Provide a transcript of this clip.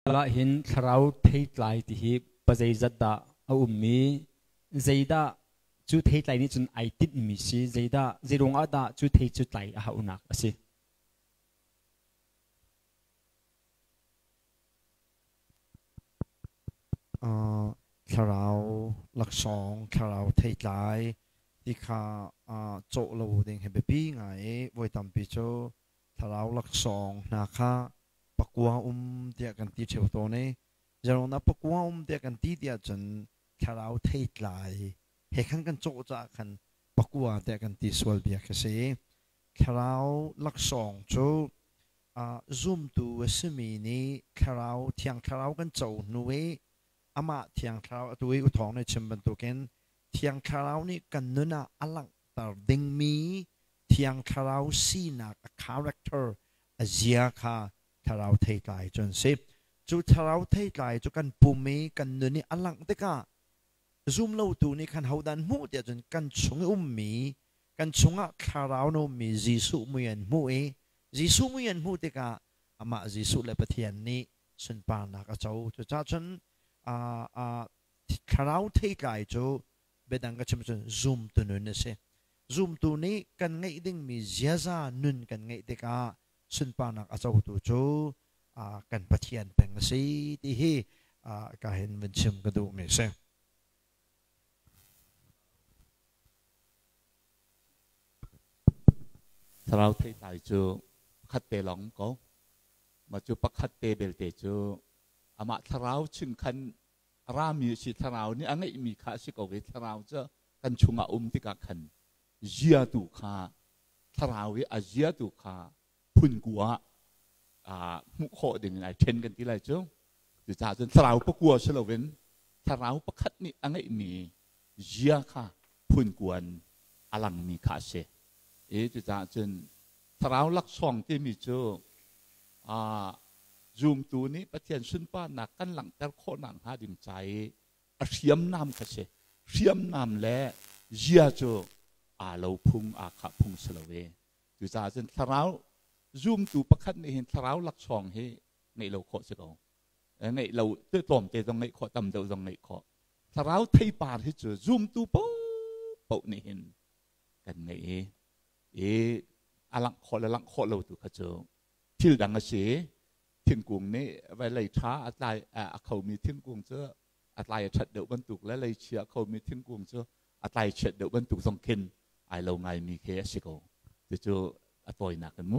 Khal ahhin thlarau theitlai ti hi pazeizat dah a um i zeidah cu theitlai nih cun ai tinhmi si zeidah zeiruang ah dah cu thei cu tlai a hauhnak a si. Uh, thlarau laksawng thlarau theitlai ti kha uh, cawh lo ding he biapi ngai i voi tampi cu Thlarau laksawng hna kha pakua um tiah kan ti ṭheo tawn i zeiruangdah pakua um tiah kan ti tiah cun thlarau theitlai he khan kan cawh caah khan pakua tiah kan ti sual bia ka si. Thlarau laksawng cu uh, zumtu a simi nih thlarau thiang thlarau kan co hnu i amah thiang thlarau atu i u thawng nih chim bantukin thiang thlarau nih kan nun ah a langh tar dingmi Thiang Thlarau sinak a character a zia kha thlarau theitlai cu an si. Cu thlarau theitlai cu kan pum i kan nun i a langh tikah zumlotu nih khan hodah an hmuh tiah cun kan chung i ummi kan chungah thlarau in a ummi Jesuh mui an hmuh i Jesuh mui an hmuh tikah amah Jesuh le Pathian nih sunparnak a co. Cucahcun thlarau theitlai cu biadang ka chim cun zumtu nun a si. Zumtu nih kan ngeih dingmi ziaza nun kan ngeih tikah sunparnak a cotu cu uh, kan Pathian peng a si ti hi uh, ka hin vun chim ka duhmi a si. Thlarau theitlai cu pakhat te lawng ko. Mah cu pakhat te belte cu amah thlarau chingkhan a rami a si thlarau nih a ngeihmi kha a si ko i thlarau cu kan chungah um tikah khan ziatu kha thlarau i a ziatu kha phunku ah aa hmuh khawh ding in ai ṭhen kan ti lai cu cucaah cun thlarau pakua si loin thlarau pakhat nih a ngeihmi zia kha phunkuan a langmi kha a si. I cucaah cun thlarau laksawng timi cu aa zumtu nih Pathian sunparnak kan langhter khawh nakhnga ding ca i a hriamnam kha si. Hriamnam le zia cu aa lo phung, aa khah phung si lo i cucaah cun thlarau zumtu pakhat nih hin thlarau laksawng hi ngeih lo khawh si ko. Ngeih lo tlawmte zong ngeih khawh, tam deuh zong ngeih khawh. thlarau theipar hi cu zumtu popoh nih hin kan ngei i i a langh khawh le langh khawh lo tu kha cu thil dang a si thingkung nih vawilei ṭha a tlai a khomi thingkung cu a tlai a ṭhat deuh bantuk le leichi a khomi thingkung cu a tlai chiat deuh bantuk zong khin ai lo ngaimi khi a si ko cucu a tawinak in mu